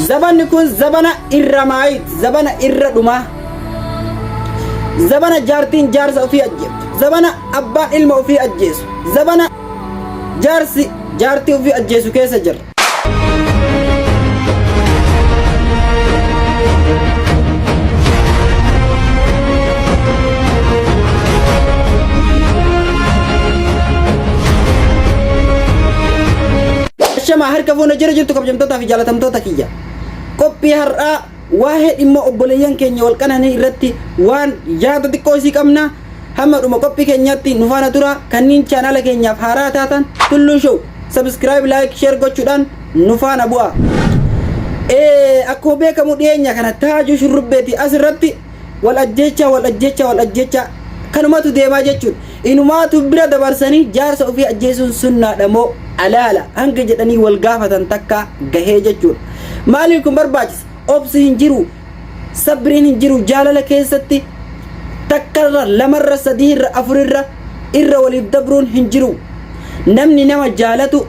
Zabanni kun zabana irra maayit, zabana irra dhumaa. Zabana jaartiin jaarsa ofii ajjeeftu. Zabana abbaan ilma ofii ajjeesu. Zabana jaarsi jaartii ofii ajjeesu keessa jirra. Ashamaa harka fuuna jira jirtu kabjamtootaa fi jaalatamtoota kiyya. Qophii har'aa waa'ee dhimma obboleeyyan keenya wal qananii irratti waan yaada xiqqoo isii qabna. Hamma dhuma qophii keenyaatti nu faana tura. Kanniin chaanaala keenyaaf haaraa taatan Tulluu Show subscribe, like, share gochuudhaan nu faana bu'aa. Ee, akkuma beekamu dhiyeenya kana taajuu shurrubbeeti as irratti Wal ajjeechaa, wal ajjeechaa, wal ajjeechaa. Kanumatu deemaa jechuun. Inumaatu bira dabarsanii jaarsa ofii ajjeesuun sunnaadha moo alaala hanga jedhanii wal gaafatan takkaa gahee jechuudha. Maaliif kun barbaachisa? Obsi hin jiru, sabriin hin jiru jaalala keessatti takkarra, lamarra, sadiirra, afurirra irra waliif dabruun hin jiru. Namni nama jaalatu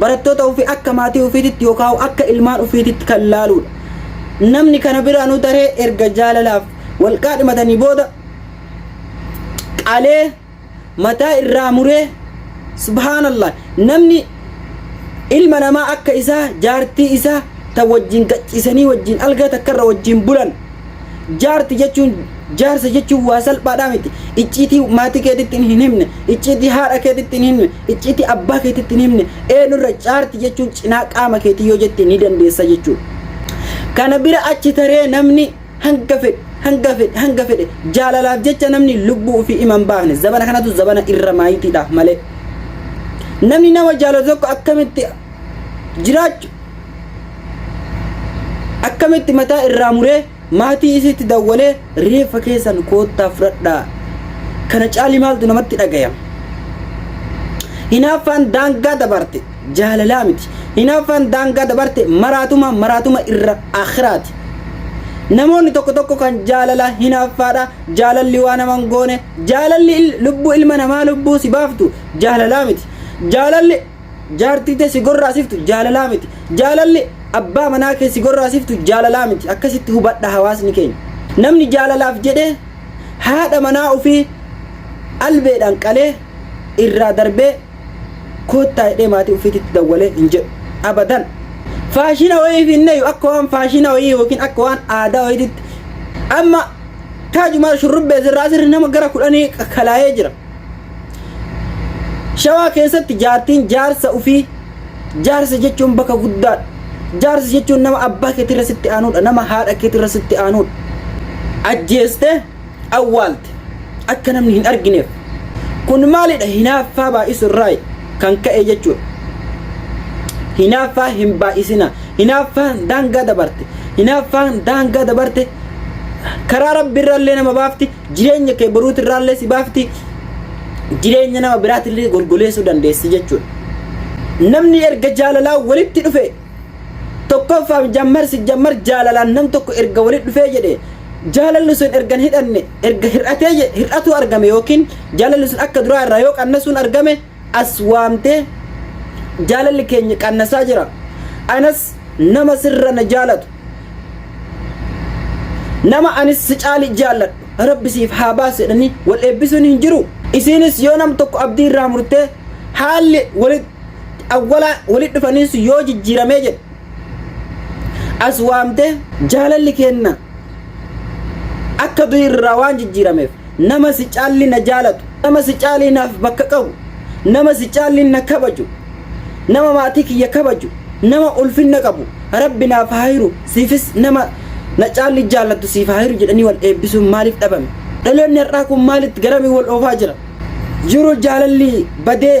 Barattoota ofii akka maatii ofiititti yookaan akka ilmaan ofiititti kan laaluudha. Namni kana biraanuu taree erga jaalalaaf wal qaadhimatanii booda qalee mataa irraa muree subhaanallah namni ilma namaa akka isaa jaartii isaa ta wajjin gachiisanii wajjin algaa takkarra wajjin bulan Jaarti jechuun jaarsa jechuun waa salphaadhaa miti. Icciitii maatii keetitti hin himne, icciitii haadha keetitti hin himne, icciitii abbaa keetitti hin himne. Eenyurra jaarti jechuun cinaa qaama keetii yoo jette ni dandeessa jechuudha. Kana bira achi taree namni hanga fedhe hanga fedhe hanga fedhe jaalalaaf jecha namni lubbuu ofii ima hin baafne zabana kanatu zabana irra maayitiidhaaf malee. Namni nama jaalatu tokko akkamitti jiraachu Akkamitti mataa irraa muree maatii isiitti dawwalee reeffa keessan koottaa fudhadhaa kana caali maaltu namatti dhagayama. Hinaaffaan daangaa dabarte jaalalaa miti. Hinaaffaan daangaa dabarte maraatuma maraatuma irra akhiraati. Namoonni tokko tokko kan jaalala hinaaffaadha jaalalli waa nama hin goone jaalalli il- lubbuu ilma namaa lubbuu si baaftu jaalalaa miti. Jaalalli Jaartii tee si gorraasiftu jaalalaa miti. Jaalalli abbaa manaa kee si gorraasiftu jaalalaa miti. Akkasitti hubadha hawaasni keenya. Namni jaalalaaf jedhee haadha manaa ofii albeedhaan qalee irraa darbee koottaa jedhee maatii ofiititti dawwalee hin jedhu. Abadan. Faashina wayiif hin dhayu akka waan faashina wayii yookiin akka waan aadaa wayiititti amma taajumaar shurrubbee sirraa sirri nama gara kudhanii kalaayee jira. Shawaa keessatti jaartiin jaarsa ufii jaarsa jechuun bakka guddaadha. Jaarsa jechuun nama abbaa keetirra sitti aanudha. Nama haadha keetirra sitti aanudha. Ajjeeste awwaalte akka namni hin argineef. Kun maalidha hinaaffaa baay'isu irraa kan ka'e jechuudha. Hinaaffaa hin baay'isina. Hinaaffaan daangaa dabarte. Hinaaffaan daangaa dabarte karaa rabbi irraallee nama baafti. jireenya kee boruuti irraallee si baafti jireenya nama biraatillee golgoleessuu dandeessi jechuudha. Namni erga jaalalaa walitti dhufe tokkoffaa jammar si jammar jaalalaan nam tokko erga walitti dhufee jedhe jaalalli sun erga hin hidhanne erga hir'atee hir'atuu argame yookiin jaalalli sun akka duraa irraa yoo qannasuun argame as waamtee jaalalli keenya qannasaa jira anas nama sirra na jaalatu nama anis si caali jaalladhu rabbi siif haa baasu jedhanii wal eebbisuun hin jiru isiinis yoo nam tokko abdii irraa murtee haalli walit awwalaa walit dhufaniis yoo jijjiiramee jedhe as waamtee jaalalli keenna akka du'i irraa waan jijjiirameef nama si caalli na jaalatu nama si caalli naaf bakka qabu nama si caalli na kabaju nama maatii kiyya kabaju nama ulfinna qabu rabbi naaf haa hiru siifis nama na caalli jaallattu siif haa hiru jedhanii wal eebbisuun maaliif dhabame dhaloonni har'aa kun maalitti garamii wal oofaa jira jiru jaalalli badee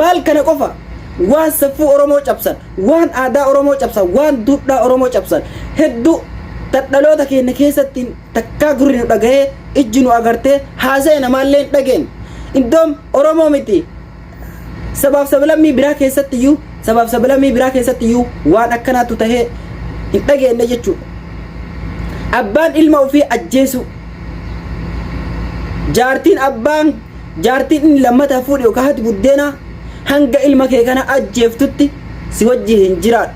maal kana qofa waan saffuu oromoo cabsan waan aadaa oromoo cabsan waan duudhaa oromoo cabsan hedduu dhaloota keenya keessatti takkaa gurri nu dhagahee ijji nu agartee haasa'e namaallee hin dhageenye iddoon oromoo miti Sabaaf sablammii biraa keessatti iyyuu sabaaf sablammii biraa keessatti iyyuu waan akkanaatu tahee hin dhageenne jechuudha. Abbaan ilma ofii ajjeesuu jaartiin abbaan jaartiin inni lammataa fuudhe yookaan haati buddeenaa hanga ilma kee kana ajjeeftutti si wajji hin jiraadhu.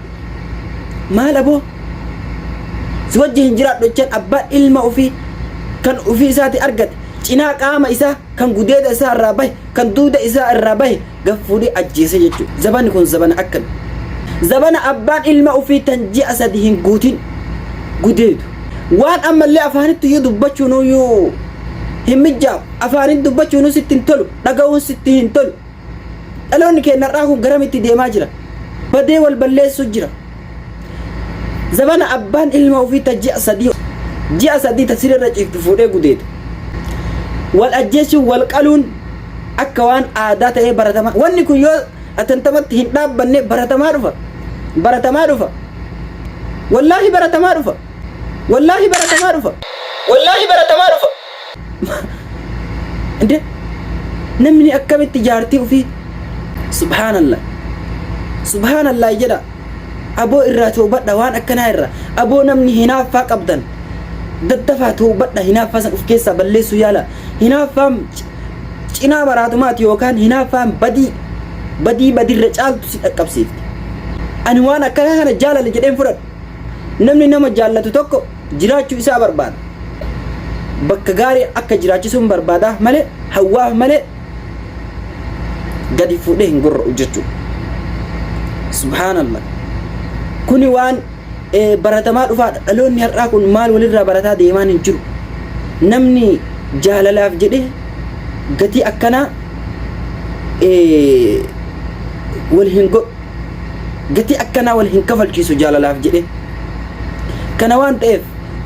Maal aboo? Si wajji hin jiraadhu jechaan abbaan ilma ofii kan ofii isaati argate cinaa qaama isaa kan gudeeda isaa irraa bahe kan duuda isaa irraa bahe gaf fuudhee ajjeese jechuudha zabani kun zabana akkami zabana abbaan ilma ofii tan ji'a sadi hin guutin gudeedu waan ammallee afaanitti iyyuu dubbachuun iyyuu hin mijjaawu afaaniin dubbachuun sitti hin tolu dhaga'uun sitti hin tolu Dhaloonni keenya har'aa kun garamitti deemaa jira? Badee wal balleessuu jira. Zabana abbaan ilma ofii ta ji'a sadii ji'a sadii ta siree irra ciiftu fuudhee gudeedu. Wal ajjeessuun wal qaluun akka waan aadaa ta'ee baratamaa. Wanni kun yoo atantamatti hin dhaabbanne baratamaa dhufa. Baratamaa dhufa. Wallaahi baratamaa dhufa. Wallaahi baratamaa dhufa. Wallaahi baratamaa dhufa. እንዴ namni akkamitti jaartii ofii subhaanallah subhaanallah jedha aboo irraa toobadha waan akkanaa irra aboo namni hinaaffaa qabdan daddafaa toobadha hinaaffaa san of keessaa balleessuu yaala hinaaffaan c- cinaa maraatumaati yookaan hinaaffaan badii badii badirra caaltu si dhaqqabsiifti ani waan akkanaa kana jaalala jedheen fudhadhu Namni nama jaallatu tokko jiraachuu isaa barbaada. Bakka gaarii akka jiraachisuun barbaadaaf malee hawwaaf malee gadi fuudhee hin gorra'u jechuudha. Subhaanallah. Kuni waan eh, baratamaa dhufaadha. Dhaloonni har'aa kun maal walirraa barataa deemaan hin jiru. Namni jaalalaaf jedhee gatii akkanaa eh, wal hin godhu. gatii akkanaa wal hin kafalchiisu jaalalaaf jedhee. Kana waan ta'eef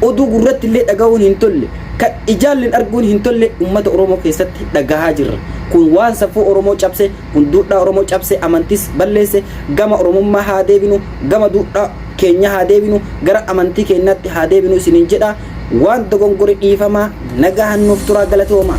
oduu gurratti illee dhagahuun hin tolle kan ijaalleen arguun hin tolle uummata Oromoo keessatti dhagahaa jirra. Kun waan safuu Oromoo cabse, kun duudhaa Oromoo cabse, amantiis balleesse, gama Oromummaa haa deebinu, gama duudhaa keenya haa deebinu, gara amantii keenyaatti haa deebinu isiniin jedha. Waan dogongore dhiifamaa nagahan nuuf turaa galatoomaa.